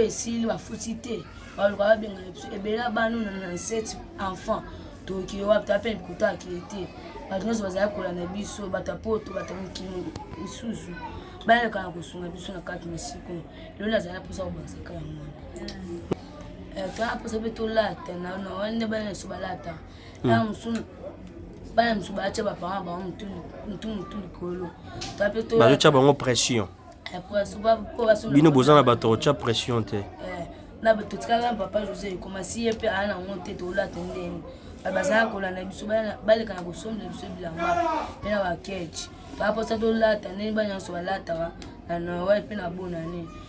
esili bafuti te baluka babenga biso ebela bano na 97 enfant tookile wapi ta pene bikuta akili te bato nyonso bazali kola na biso bato ya poto bato ya mikili misusu bayaka na kosunga biso na kati mosiko eloli azali mposa kobakisa kala mwana eh, toyaka mposa mpe tolata na wana nde bana nyonso balata ntango mosusu bana mosusu batya bapanga bango mutu mutu likolo bazotya bango pression eh, bino boza na bato otya pression te eh, na totikaka papa josé ekoma si ye mpe aa nango te tolata ndeni bazalaka kolanda biso baleka na kosombela biso bilamba mpe na bakeche baposa tolata ndeni bana nyonso balataka na noel mpe na bonane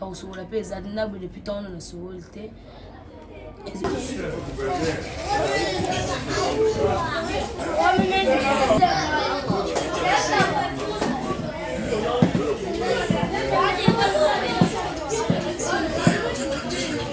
ya kosokola mpe eza te naboye depuis ntango wana nasokoli te Thank you.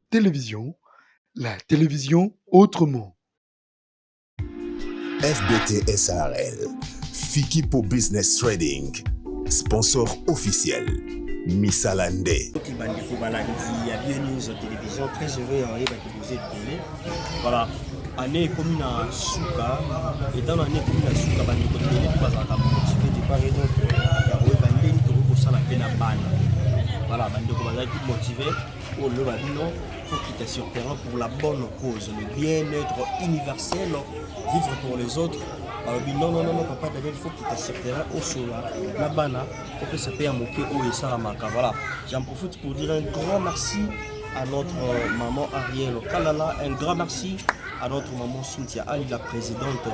Télévision, la télévision autrement. FBT SRL, Fikipo Business Trading, sponsor officiel. misala nde bandeko balandi ya bien news télévision très heureux ya oyebaki boza ebele voilà année ekomi na suka etant na année ekomi na suka bandeko ebele mpe bazalaka motive départ et d'autre ya koyeba ndenge tokoki kosala mpe na bana voilà bandeko bazalaki motive oyo loba bino faut quitter sur terrain pour la bonne cause le bien-être universel vivre pour les autres balobi non non non papa Daniel faut quitter sur terrain osola na bana opesa mpe ya moke oyo esalamaka voilà j'en profite pour dire un grand merci à notre euh, maman Ariel Kalala un grand merci à notre maman Cynthia Ali, la présidente.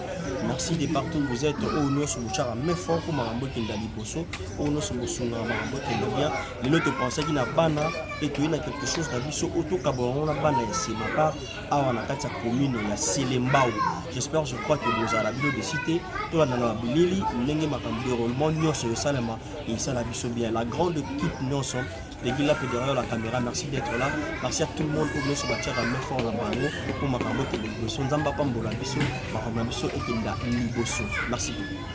Merci de partout où vous êtes. Au nom de Mouchara, mais fort pour Marambo Kenda Liboso. Au nom de Moussouga, Marambo Kenda bien. lelo topensaki na bana mpe toyei na quelque chose na biso oyo tokabwa yango na bana ya sima par awa na kati ya commune ya selembao j'espère je crois que bozala bino desi te tolandana na bilili ndenge makambo déroulement nyonso esalema esala biso bien la grande équipe nyonso Légui là, derrière la caméra, merci d'être là. Merci à tout le monde pour nous sur la chair à main fort dans Bango pour ma camote de Bosso. Nzamba Pambola Bisso, ma camote Bisso et Kinda Libosso. Merci beaucoup.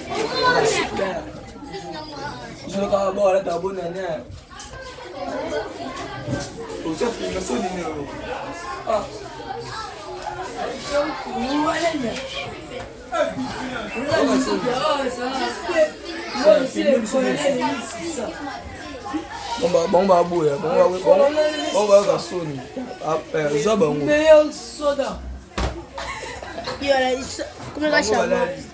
bango baboya bango bayaka soni eza bango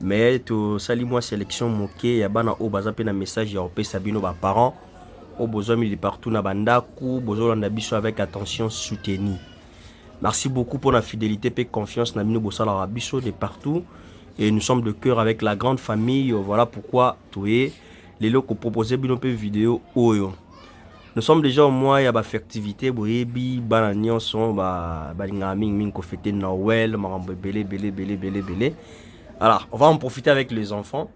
mais tosali mwa selection moke ya bana oyo baza mpe na message ya kopesa bino ba parents oyo bozwami partout na bandako bozolanda biso avec attention soutenu merci beaucoup mpo na fidélité mpe confiance na bino bosalaka biso de partout et nous sommes de cœur avec la grande famille voilà pourquoi toye lelo kopropose bino mpe video oyo oh Nous sommes déjà au mois ya ba festivité boyebi bana nyonso ba balingaka mingi mingi ko fêter Noël makambo ebele ebele ebele ebele ebele. Alors, on va en profiter avec les enfants.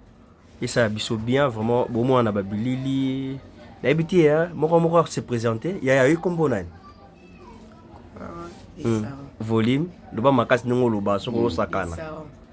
Et ça biso bien vraiment bon moi on a babilili. Nayebi te hein, moko moko se présenter, ya ya kombo nani? Ah, hmm. Volume, loba makasi ndenge oloba soko hmm, osakana.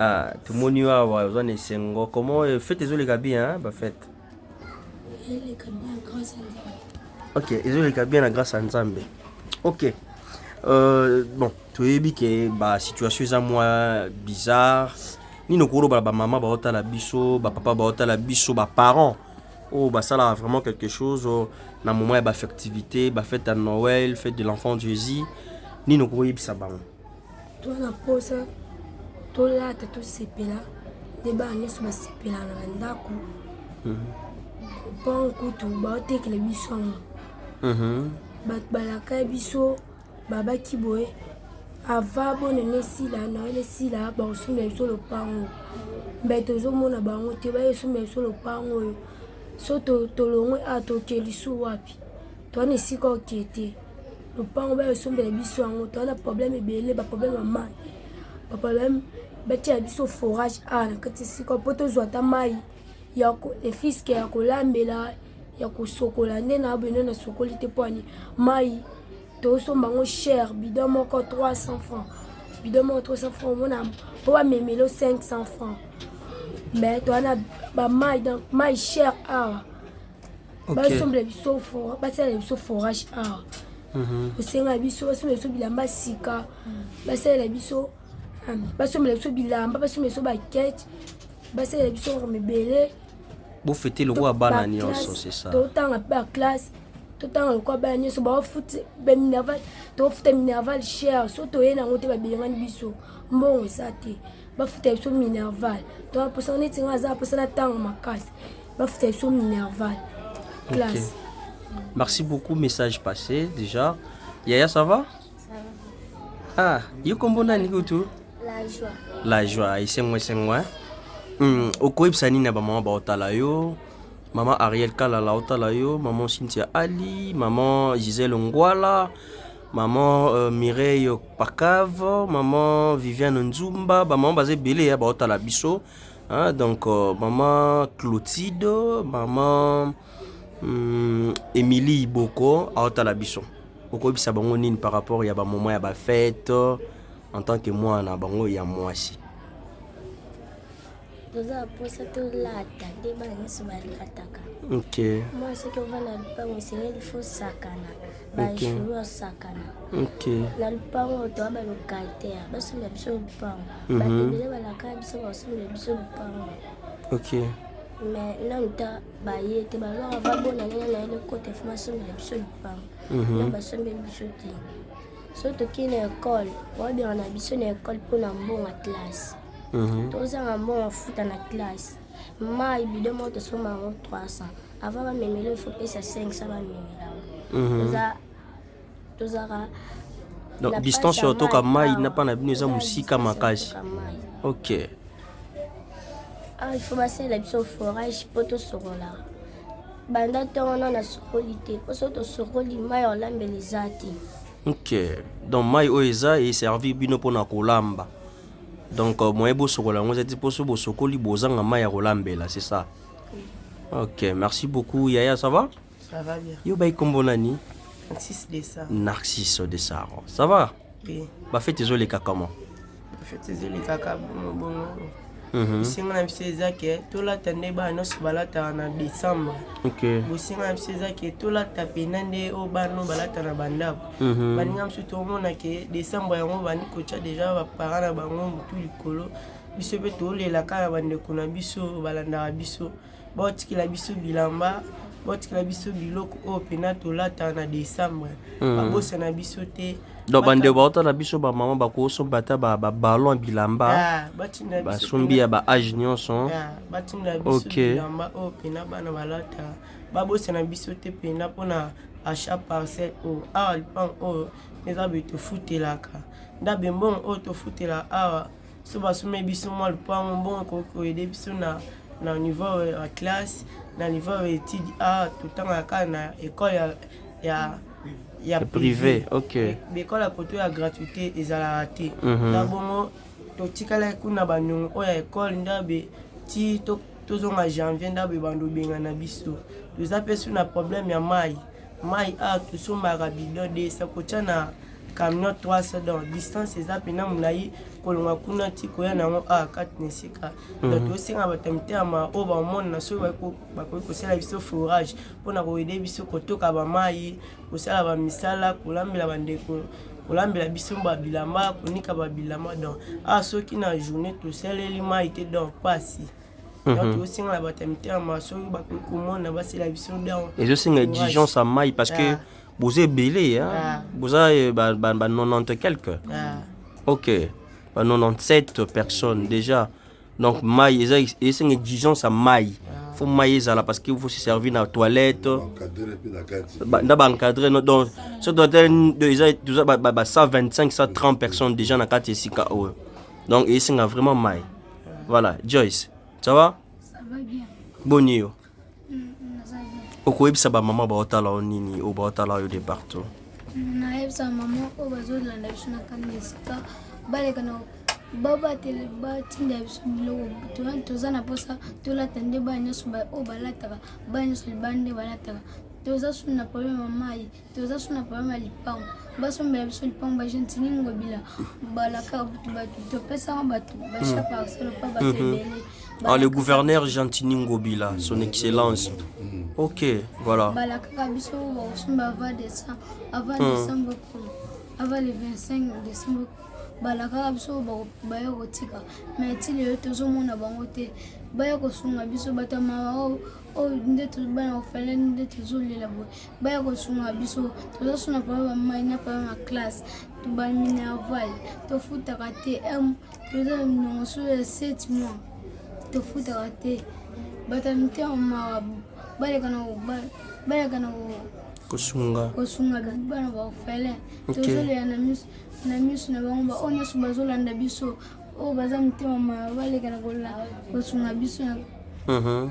Ah, tomoni yo awa oza na esengo comment euh, fete ezoleka bien bafete ok ezoleka bien na grâce ya nzambe ok euh, bon toyebi ke basituation eza mwa bizarre nini okolobala bamama baotala biso bapapa baotala biso baparent oyo oh, basalaka vraiment quelque chose oh, na moment ya bafectivité bafete ya noël fete de l'enfant jésus nini okoyebisa bango toza na mposa tolata tosepela nde bana nyonso basepela na bandako lopango mhm. kutu baotekela biso yango mhm. bato balaka biso babaki boye ava bonene esila naele esila bakosombela biso lopango mbe tozomona bango te baesombela biso lopango oyo so tolongwe a tokeli su wapi toa na esika oke te lopango bayo esombela biso yango toa na problème ebele baproblème ya mai baproblème batyela biso forage a na kati esika mpo tozwa ata mai ya efiske ya kolambela ya kosokola nde na bino nasokoli te mpo ani mai tosomba yango cher bidon moko 300 francs bidon moko 300 francs omona mpo bamemelo 500 francs mais toa na bamai donc mai cher awa ah. basombela biso basalela biso forage awa mhm. osenga biso basombela biso bilamba sika basalela biso basombela biso bilamba basombela biso bakete basalela biso orme ebele bofete lokola bana nyonso sesa totanga mpe baklasse totanga lokola bana nyonso baofuta baminerval tofuta minerval cher so toye nango te babelengani biso mbongo eza te bafuta biso minerval toaposana neti nga aza aposana ntango makasi Bafuta biso minerval. Classe. Okay. Merci beaucoup, message passé déjà. Yaya, ça va? Ça va. Ah, yo kombo nani kutu? La joie. La joie, isengo isengo hein. Hmm, okoyebisa nini na bamama baotala yo mama ariel kalala otala yo mama cynthia ali mama gisele ngwala mama uh, mireille pakave mama viviane nzumba bamama baza ebele ya baotala biso Ah, donc euh, maman Clotilde, maman hum, Emilie Iboko aotala biso. Okobisa bango nini par rapport ya ba moment ya ba fête en tant que mwana bango ya mwasi. toza mposa tolata nde bana nyonso balataka Ok. mwana soki ovanda na lupango osengeli fosakana bajuru osakana na lupango toa balokataire basomba biso lupango mhm. bato ebele balaka biso basomba biso lupango ok mais nanu ta baye te bazwaka babona nene na yele kote fo basombela biso lupango mhm. na basombeli biso te so tokei na ekole babengana biso na ekole mpo na mbongo ya classe mhm. tozanga mbongo afuta na classe Mayi bidon moko tosomba yango 300. Avant bamemela il faut pesa 500 bamemela yango. Toza tozaka Donc na distance place ya ya otoka mayi mayi awa. na pa na bino eza Toza na mosika distance ya makasi. kotoka mayi. Okay. Ah, il faut basalela biso forage mpo tosokola banda to wana nasokoli te mpo soki tosokoli mai ya kolambela eza te Okay. Donc mayi oyo eza e servir bino pona kolamba. Donc euh, moyen bosokola yango ezati mpo soki bosokoli bozanga mai ya kolambela c'est ça oui. Ok merci beaucoup yaya ça va Ça va bien. Yo bayi kombo nani Narcisse Dessaro. Narcisse Dessaro. Ça va Oui. Ba fête ezoleka comment Ba fête ezoleka kaka bongo bongo. Mhm. bosenga na biso eza ke tolata nde bana nyonso balataka na décembre bosenga na biso eza ke tolata mpena nde oyo bana oyo balata na bandako mhm. baninga mosusu tomona ke décembre yango bandi kotya deja bapara na bango motu likolo biso mpe tolelaka na bandeko na biso balandaka biso baotikela biso bilamba baotikela biso biloko oyo mpena tolata na décembre mhm. babosana biso te donc bandeko bauta na biso bamama bakosomba ata babalon bilamba ah, basombi ya baage nyonso ah, batindela biso bilamba oyo mpena bana balata babosana biso te mpena mpona achat parcelle oyo awa lipango oyo eza boye tofutelaka ndabe mbongo oyo tofutelaka awa so basomei biso mwa lopango mbongo ekoki koyede biso na na niveau ya classe na niveau ya étude awa totangaka kaka na école ya, ya ya privé ok bekole ya koto ya gratuité ezalaka te mhm. na bongo totikalaki kuna baniongo oyo ya ekole ndabe ti tozonga janvier ndabo ebanda obengana biso toza mpe su na problème ya mai mai a tosombaka bidon 200 kotya na camion 300 donc distance eza mpena molai kolonga kuna ti koya na yango a kati na esika mhm. donc tosenga bato ya mitema oyo bamonana soki bakoki kosala biso forage mpona koyede biso kotoka bamai kosala bamisala kolambela bandeko kolambela biso ba bilamba konika ba bilamba donc awa ah, soki na journée tosaleli mai te donc pasi mhm. donc tozosengela bato ya mitema soki bakoki komona basela biso donc ezosenga exigence ya mai parce que ah. boza ebele ah. boza eh, ba 90 quelque ok ba 97 personnes déjà donc mai eza esenga exigence ya mai fo mai ezala parce que faut se servir na toilette na baencadre donc so toitel eza toza ba 125 130 personnes déjà na kati esika oyo donc esenga vraiment mai voilà joyce ça va boni yo okoyebisa bamama baotala yo nini oyo baotala yo de partout nayebisa mama oyo bazolanda biso na kani esika baleka na babatele batinda biso biloko toza na mposa tolata nde bana nyonso oyo balataka bana nyonso libanda nde balataka toza suni na probleme ya mai toza so na problème ya lipango basombela biso lipango bagentini ngobila balaka bato topesaka bato bacha hmm. parcelle pa bato mhm. ebele Ah, le gouverneur Gentini Ngobila, son excellence. Hmm. Ok, voilà. Balakaka biso bakosomba avant décembre, avant hmm. décembre, avant le 25 décembre. balakaka biso baya kotika mai ti lelo tozomona bango te baya kosunga biso bato ya mawa oyo nde bana kofalani nde tozolela boye baya kosunga biso tozosuna papa bamai na papa ma classe baminerval tofutaka te toza na minongo so ya 7 mois tofutaka te bato ya mitema mawa baleka na kosunga kosunga bana baofele tozolela na miso na bango baoyo nyonso bazolanda biso oyo baza mitema mawa baleka na kosunga biso mhm.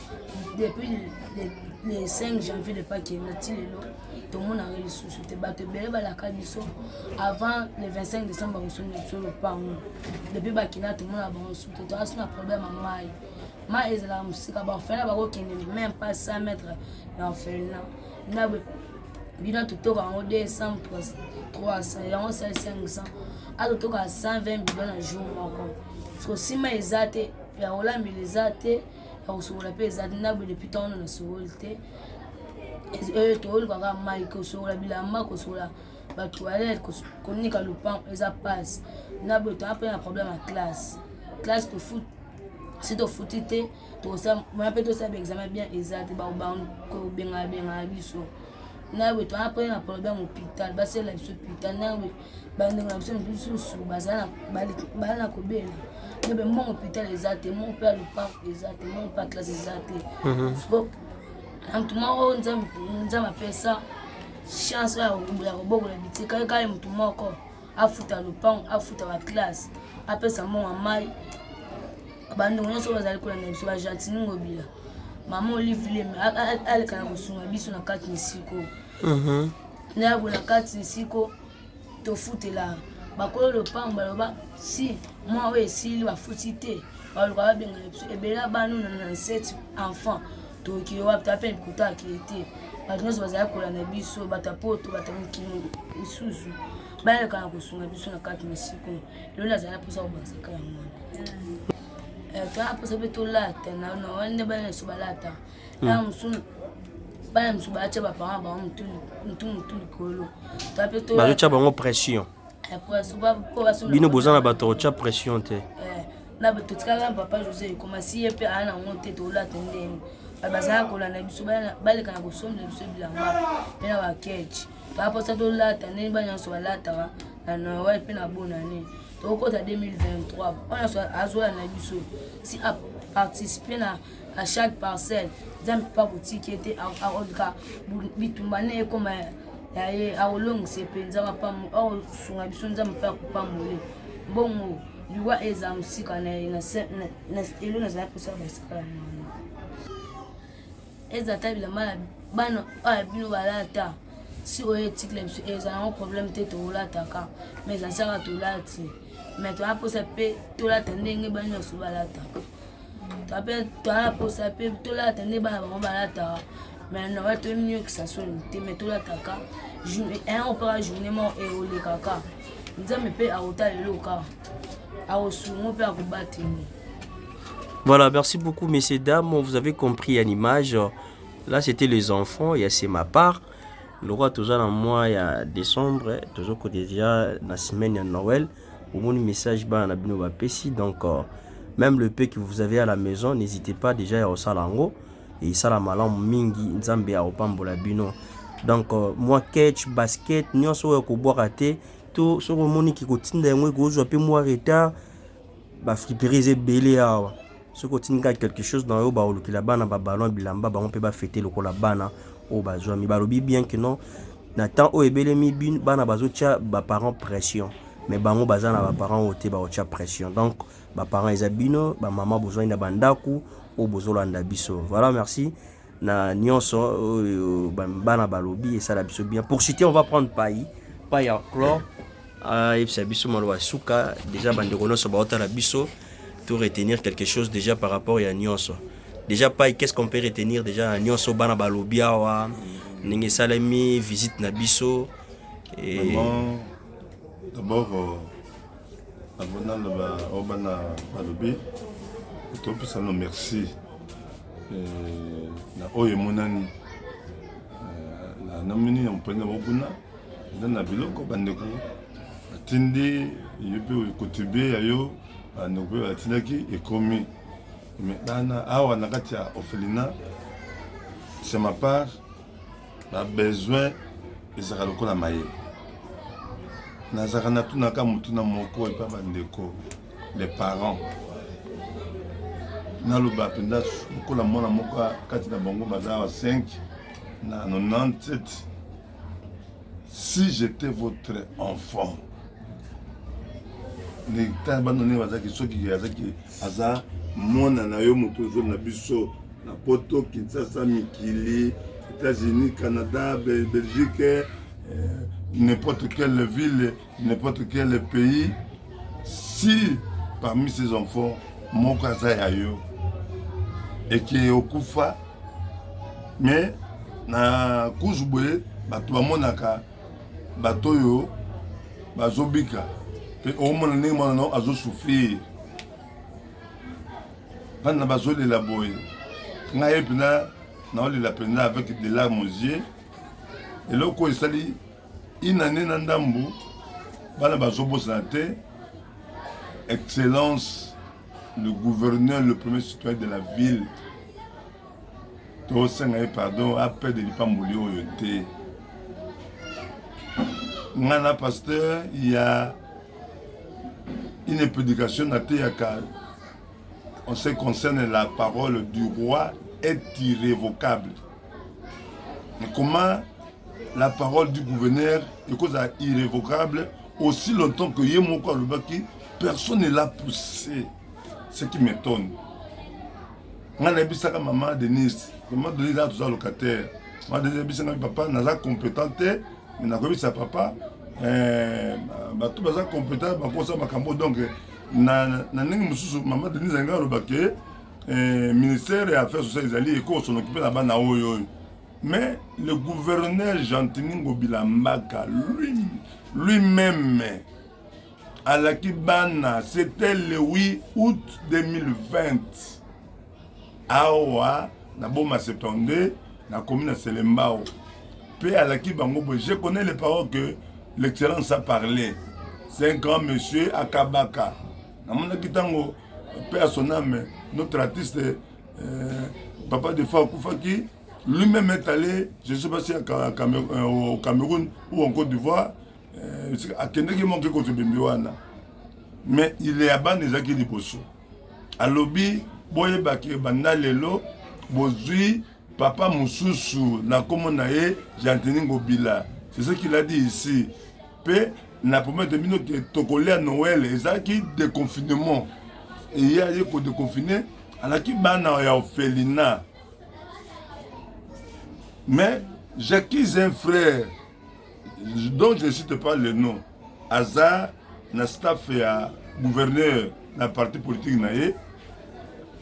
depuis le 5 janvier le pake nati lelo tomonaka lisusu te bato ebele balaka biso avant le 25 décembre bakosoni biso lopango depuis bakina tomona bango su te toasi na problème ya mai mai ezalaka mosika baorphelin bakokende même pas 100 mètre na orphelina na bino totoka yango 200 300 yango osali 500 atotoka 120 bidon na jour moko sosima eza te ya olambela eza te ya kosokola mpe eza te naboye depuis ntango wana nasokoli te eh, toolukaka mai kosokola bilamba kosokola batoilette konika lopango eza mpasi naboye toa mpe na problème ya classe classe tofut si tofuti te toya mpe tosala baexamen bien eza te bakobengana bengana biso naboye toa mpe na problème hôpital basala biso hôpital naboye bandeko na biso mosusu bazala na kobela nebe mwa hôpital eza te mwa mpe ya loparc eza te mwa mpe ya classe eza te mhm. soko na motu moko nzambe apesa chance ya kobokola bitika ye kaka motu moko afuta lopango afuta baklasse apesa mbongo ya mai bandeko nyonso bazali kolanda biso bagentini ngobila mama olivile aleka na kosunga biso na kati misiko Mhm. na ya bola kati nsiko tofutela bakolo lopango baloba si mwa oyo esili bafuti te baloka babenga biso ebela bano na 97 enfant tookile wapi toya mpe bikuta akili te bato nyonso bazali kola na biso bato ya poto bato ya mikili misusu bayalekana kosunga biso na kati na siko lelo azali mposa kobakisaka yango wana Eh, toya mposa mpe tolata na na wana nde bana nyonso balata na musu bana musu ba cha ba parents ba mutu mutu mutu likolo to pe to ba cha bango pression après so ba ko ba so bino bozana ba to cha pression te eh, na ba totikala papa José koma si ye pe ana ngo te to la tende bazala kolanda biso baleka na kosombela biso bilamba mpe na bakeche baposa tolata ndenge bana nyonso balataka na noel mpe na bonane tokokota 2023 wana nyonso azolanda biso si aparticipe na à chaque parcelle nzambe mpe akotiki ete akolka bitumba ne ekoma ya ye akolongisa mpenza akosunga biso nzambe mpe akopambole bongo liwa eza mosika na ye elo nazali kosala basika ya mwana eza ta bilamba ya bana oyo ya bino balata si oyo etikila biso eza yango problème te tokolataka mais ezasaka tolati mais toyaposa mpe tolata ndenge banyonso balataka ape toaposa mpe tolata nde bana bango balataka mais na bato emiyokisa soni te mais tolataka un opaka journée moko eolekaka nzambe mpe akotala eloko kaka akosungo mpe akobateli Voilà, merci beaucoup messieurs, dames. Vous avez compris à l'image. Là, c'était les enfants. Il y a c'est ma part. Le roi, tout ça, dans le mois, il y a décembre. Tout ça, déjà, la semaine, il y a Noël. omoni message bana na bino bapesi donc euh, même le peu que vous avez à la maison n'hésitez pas déjà ya kosala yango esala malamu mingi nzambe akopambola bino donc euh, mwa catch basket nyonso oyo ekobwaka te to soki omoni kikotinda yango ekozwa mpe mwa retard bafriperies ebele awa soki otindi kaka quelque chose na yo bakolukela bana ba ballon bilamba bango mpe bafete lokola bana oyo bazwami balobi bien que non na temps oyo ebelemi bin bana bazotya baparent pression mais bango baza na baparent oyo te bakotya pression donc baparent eza bino bamama bozwani na bandako oyo bozolanda biso voilà merci na nionso oyo bana balobi esala biso bien pour citer on va prendre pai pai ya clore ayebisa ah, biso maloba suka déjà bandeko nyonso baotala biso to retenir quelque chose déjà par rapport ya nionso déjà pai qu'est ce qu'on peut retenir déjà na nionso bana balobi awa ndenge esalemi visite na biso et... d'abord euh, naloba oyo oh, bana balobi topesano merci eh, na oyo emonani eh, na namini ya mopende mokuna eza na biloko bandeko batindi yo mpe kotribue ya yo bandeko mpe batindaki ekomi me bana awa na kati ya orphelina c'est ma part ba besoin ezalaka lokola maye nazalaka natunaka motuna moko epa bandeko les parents naloba mpenza lokola mwana moko kati na bango baza wa 5 na 97 si j'étais votre enfant ndenge tala bano ndenge bazalaki soki azalaki aza mwana na yo moto ozo na biso na poto kinshasa mikili états-unis canada belgique eh, n'importe quelle ville n'importe quel pays si parmi ces enfants moko aza ya yo eke okufa mais na couche boye bato bamonaka bato oyo bazobika mpe omona ndenge mwana nao azosouffrir bana bazolela boye ngai mpena naolela mpenza avec de larme aux yeux eloko oyo esali inane na ndambu bana bazobosana te excellence le gouverneur le premier citoyen de la ville tosenga ye pardon apede lipamboli oyo te ngai na pasteur ya une prédication nateyaka en ce concerne la parole du roi est irrévocable mais comment la parole du gouverneur ekozala irrévocable aussi longtemps que ye moko alobaki personne ne l'a poussé ce qui m'étonne ngai nayebisaka mama denise mama denise aa toza locataire mama denise ayebisa ngai papa naza compétent te me nakoyebisa papa eh, bato baza compétent bakosa makambo donc na ndenge mosusu mama denise alingai aloba ke eh, ministère ya affaire sociale ezali ekoso nokipe na bana oyo oyo mais le gouverneur gentini ngobila mbaka lui lui-même alaki bana c'était le 8 août 2020 awa na boma 72 nakomi na selembao mpe alaki bango boye je connais les paroles que l'excellence a parlé c'est un grand monsieur akabaka namonaki ntango mpe à son âme notre artiste euh, papa de fois akufaki lui-même est allé je sais pas si à Cameroun, euh, au Cameroun ou en Côte d'Ivoire eh, akendeki moke koto bembe wana mais ile ya bana ezalaki liboso alobi boyebaki banda lelo bozwi papa mosusu na nkombo na ye gentini ngobila c'est ce qu'il a dit ici mpe na promete bino te tokolia noel ezalaki déconfinement eye aye kodeconfine alaki bana ya orphelina mais jacquis un frère donc je cite pas le nom aza na staff ya gouverneur na parti politique na ye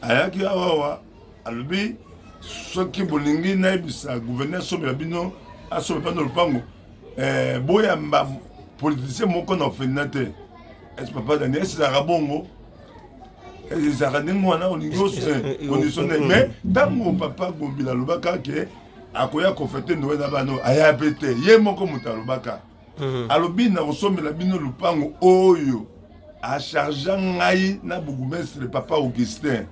ayaki awawa alobi soki bolingi nayebisa gouverneur asombela bino asombela bana lopango eh, boyamba politicien moko na ofenda te esi papa daniel esizalaka bongo ezalaka ndenge wana olingi osondisonde mais ntango papa gombila alobaka ke akoya kofete ndowe na bana oyo aya mpe te ye moko moto alobaka mhm. alobi na kosombela bino lupango oyo achargea ngai na bourgmestre papa augustin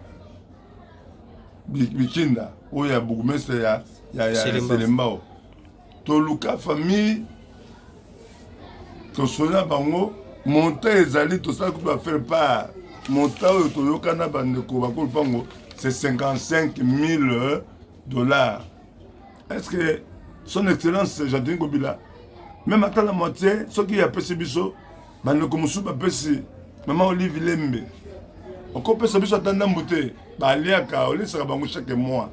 bikinda oyo ya bourgmestre ya, ya, ya selembao toluka famille tosona bango monta ezali tosala kutu affaire par monta oyo toyoka na bandeko bakolupango c'est 55 000 Dollar. Est-ce que son excellence Jean-Denis Kobila même ata la moitié soki apesi biso bandeko mosusu bapesi mama olive lembe okopesa biso ata ndambu te baliaka olesaka bango chaque mois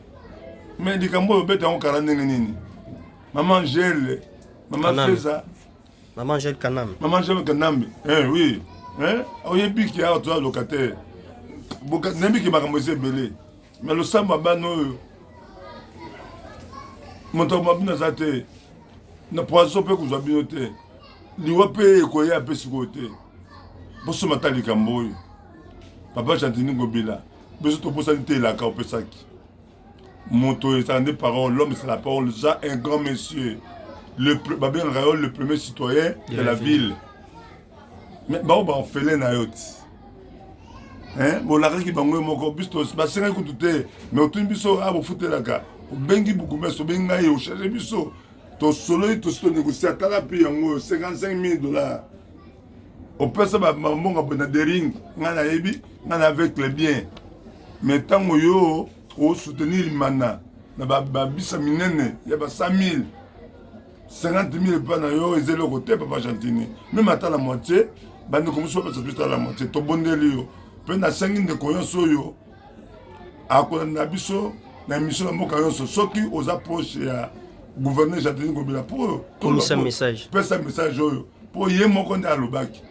mais likambo oyo obeta yango kara ndenge nini mama angele mama feza mama angele kanambe mama angele kanambe eh, oui eh, oyebiki awa toza locataire nayebiki makambo eza ebele na losambo ya bana oyo moto akoma bino aza te na poison mpe kozwa bino te liwa mpe ekoya mpe sikoyo te bosoma ta likambo oyo papa gentini ngobila biso tobosani te elaka opesaki moto ezala nde parole l'homme c'est la parole za un grand monsieur babengaka yo le premier citoyen de la ville Mais ba ba ofele na yo ti. Hein, bolakaki bango moko biso basengaki kutu te mais otuni biso ah bofutelaka obengi bukumesi obengi ngai ocharge biso tosololi tosi tonegosia tala mpe yango oyo 55 mille dollars opesa bambonga boye na dering ngai nayebi ngai na avec le bien mais ntango yo osoutenir mana na babisa minene ya ba 100 mille 50 000 epai na yo eza eloko te papa gentini meme ata la moitié bandeko mosusu bapesa biso ata la moitié tobondeli yo mpe nasengi ndeko nyonso oyo akolanda biso na emission na mboka nyonso soki oza proche ya gouverneur jardini kobela mpo pesa message oyo mpo ye moko nde alobaki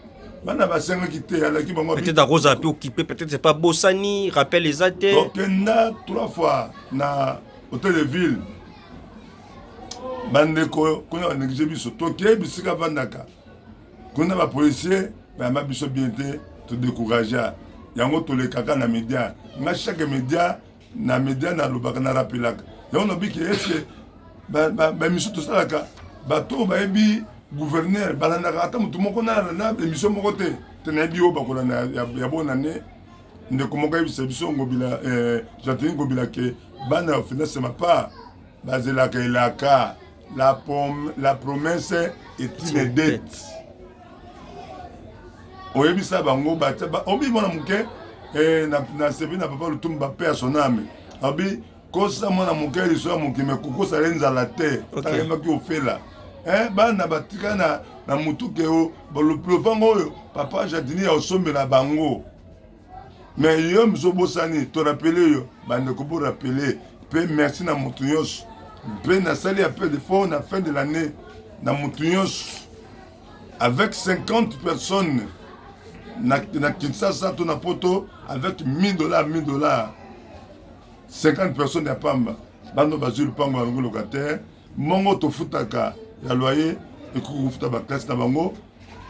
bana basengaki te alaki bango peut-être akozala mpe okipe peut-être c'est pas bosani rappel eza te tokenda trois fois na hôtel de ville bandeko kuna baneglige biso tokei bisika vandaka kuna bapolisier bayamba biso bien te todecouragea yango tolekaka na media nga chaque media na media nalobaka narapelaka yango nabiki eske bamisu tosalaka bato oyo bayebi gouverneur balandaka ata motu moko nalanda emission moko te te nayebi oyo bakolanda ya bona ne ndeko moko ayebisa biso ngobila eh, jantini ngobila ke bana ya finasema pa bazelaka elaka la, prom, la promesse est une dette oyebisa bango obi mwana moke eh, nasebi na papa lutumbu bape ya soname abi kosa mwana moke liso ya mokimi kokosa le nzala te takemaki ofela eh, bana batika na, na motuke o lopango oyo papa jardinier osombela bango mais yo miso obosani to rapele yo bandeko bo rapele mpe merci na moto nyonso mpe nasali appel de fort na fin de l'année na moto nyonso avec 50 personnes na, na kinshasa to na poto avec 1000 dollars 1000 dollars 50 personnes ya pamba bando bazwi lupango ya longo locataire mongo tofutaka ya loyer ekoki kofuta baklase na bango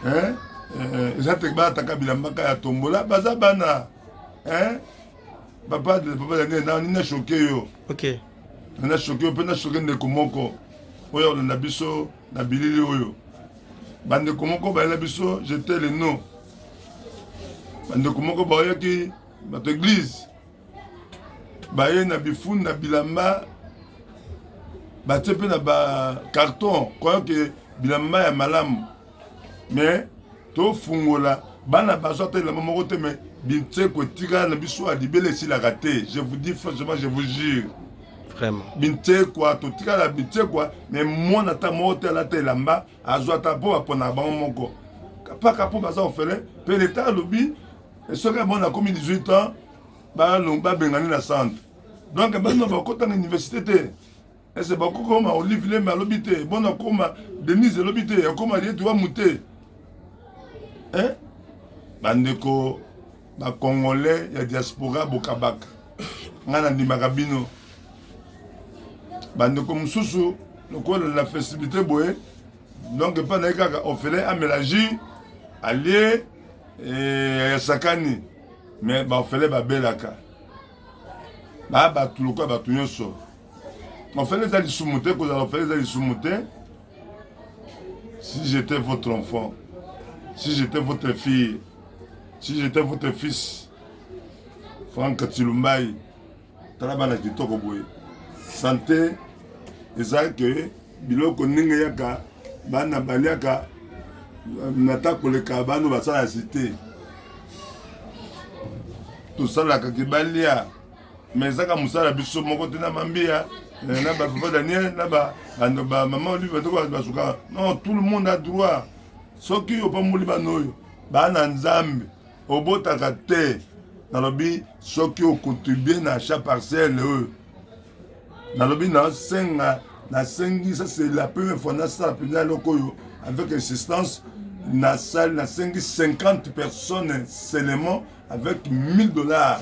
hein euh, eza te bataka bilambaka ya tombola baza bana hein papa papa ya nene nani na choke yo ok na choke yo mpe na choke ndeko moko oyo akolanda biso na bilili oyo bandeko moko bayela biso jete le nom bandeko moko baoyaki bato eglise baye na bifuni na bilamba batie mpe na bacarton croyant ke bilamba ya malamu mais tofungola bana bazwa ata elamba moko te mais bintseko etikala na biso ya libele esilaka te je vous dis franchement je vous jure vraiment binsekwa totikala binsekwa me mwana ata moko te alata elamba azwa ata mpo baponaka bango moko mpaka mpo baza ofele mpe leta alobi soki abona akomi 18 ans babengani na centre donc bana bakota na université te ese bakokoma olive lembe alobi te bona koma denise elobi te akoma rietu wamu te eh? bandeko bacongolais ya diaspora bokabaka ngai nandimaka bino bandeko mosusu lokola na festibilité boye donc epai naye kaka ofele amela jus alie eh, ayasakani me bafele babelaka baa bato lokola bato nyonso ofele eza lisumu te kozala ofele eza lisumu te si j'étais votre enfant si j'étais votre fille si j'étais votre fils frank tilumbai tala bana kitoko boye sante eza ke biloko ndenge yaka bana baliaka nata koleka bano basala site tosalaka ke balia me ezaka mosala biso moko te na mambiya eh, na bapapa daniel na bamama olive batoko basukaka non tout le monde a droit soki opamboli bana oyo bana nzambe obotaka te nalobi soki ocontribue na achat parcelle oyo nalobi nasenga nasengi ça c'est la première fois nasala mpenza eloko oyo avec insistance nasali nasengi 50 personnes seulement avec 1000 dollars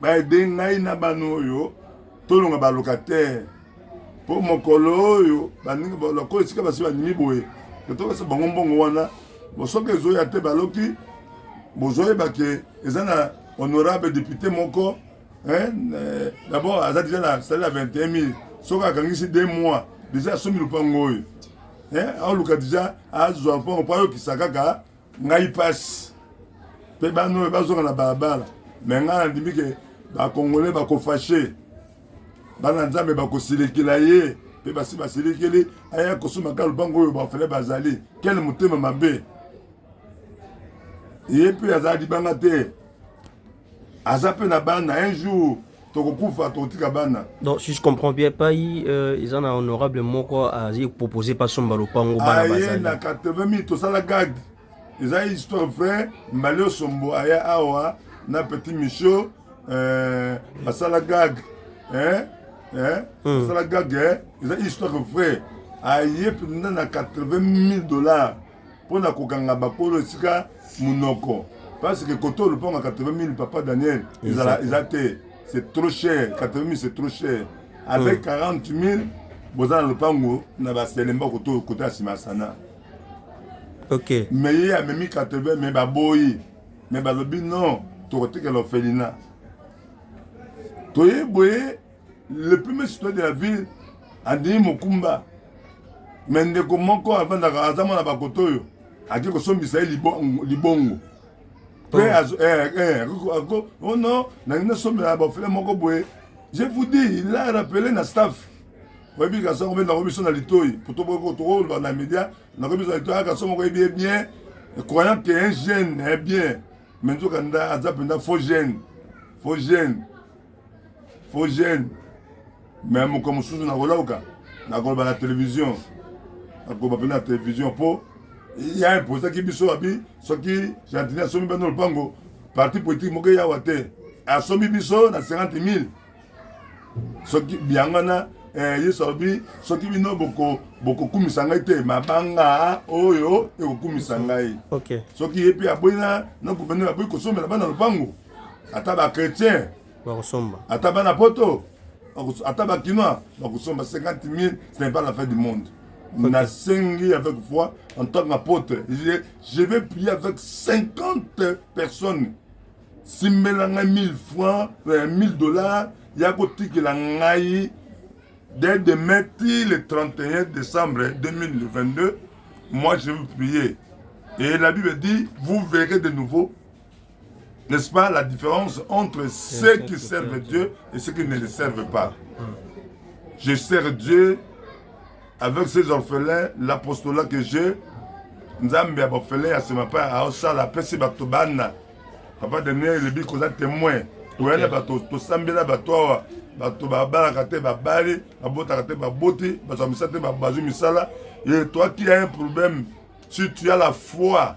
baede ngai na bana oyo tolonga balocataire mpo mokolo oyo baninga baloko esika basi bandimi boye totokasa bango mbongo wana bosoki ezoya te baloki bozoyeba ke eza na honorable député moko eh, d'abord aza deja na salaire ya 21 mille soki akangisi deux mois deja asombi lopango oyo eh, aoluka deja azwa lopango mpo ayokisa kaka ngai pasi mpe bana oyo bazonga na balabala me ngai nandimi ke bakongole bakofashe bana nzambe bakosilikila ye mpe basi basilikili aya kosomaka lupango oyo bafele bazali kele motema mabe ye mpe azala libanga te aza mpe na bana un jour tokokufa tokotika bana donc si je comprends bien pai euh, eza na honorable moko azi propose mpe asomba lopango bana bazali na 80 mille tosala gag eza histoire vrai mbali osombo aya awa na petit micho euh, basala gag eh? Eh? Mm. basala gag eh? eza histoire vrai aye mpenza na 80 mille dollars mpo na kokanga bakolo esika monoko parce que koto olupango ya 80 000 papa daniel ezala eza te c'est trop cher 80 000 c'est trop cher avec 40 000 boza na lopango na baselemba koto koto ya nsima ya sana ok mais ye amemi 80 mais baboyi mais balobi non tokotikela ofelina toye boye le premier citoyen de la ville andimi mokumba me ndeko moko avandaka aza mwana bakoto oyo ake kosombisa ye libongo pe oh. eh, eh, ako oh non nangi nasombela bafele moko boye je vous dis il a rappelé na staff oyebi kaso yango mpe nango biso na litoi po tokoloba na media nango biso na litoi aka so moko yebi ye bien croyant que un jeune est bien me nzoka nda aza mpenza faux jeune faux jeune faux jeune me mokolo mosusu nakolauka nakoloba na televizio nakoloba mpe na televizio mpo ya imposaki biso abi soki gentini asomi bino lopango parti politique moko eyawa te asomi biso na 50 000 soki yango wana eh, yesu alobi soki bino bokokumisa ngai te mabanga oyo ekokumisa ngai soki ye mpe aboyi na guvernere aboyi kosombela bana lopango ata ba chrétien bakosomba ata bana poto ata ba kinois bakosomba 50 000 ce n'est pas la fin du monde okay. nasengi avec foi en tant qu'apôtre je, je vais prier avec 50 personnes simbela ngai 1000 francs 1000 euh, dollars ya kotikela ngai dès demain ti le 31 décembre 2022 moi je vais prier et la bible dit vous verrez de nouveau N'est-ce pas la différence entre ceux qui servent Dieu et ceux qui ne le servent pas Je sers Dieu avec ces orphelins, l'apostolat que j'ai, nzambe ya bafele ya nsima mpe aosala apesi bato bana papa daniel elobi koza témoin koyana bato tosambela bato awa bato babalaka te babali babotaka te baboti bazwa misala te bazwi misala et toi qui a un problème si tu as la foi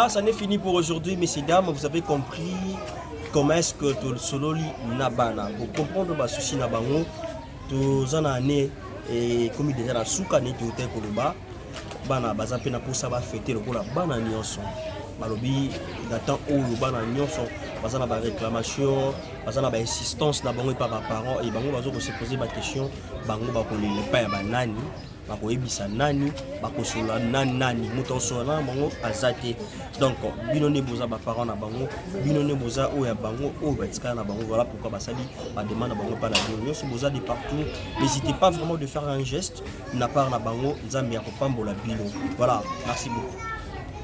Ah, ça n'est fini pour aujourd'hui, messieurs, dames. Vous avez compris comment est-ce que tu sololi nabana. Pour comprendre ma souci nabango, tu en année et comme déjà la souka n'est tout un koloba. Bana baza pena pour ça va fêter le kola bana nionso. Balobi datant où le bana nionso baza na ba réclamation, baza na ba insistance na bango et pas ba parents et bango bazo se poser ba question, bango ba kolela pas ya banani. bakoyebisa nani bakosolola na nani moto akosolola na bango aza te donc bino nde boza baparent na bango bino nde boza oyo ya bango oyo batikala na bango voilà pourquoi basali bademande na bango epai na bino nyonso boza de partout n'hésitez pas vraiment de faire un geste na part na bango nzambe ya kopambola bino voilà merci beaucoup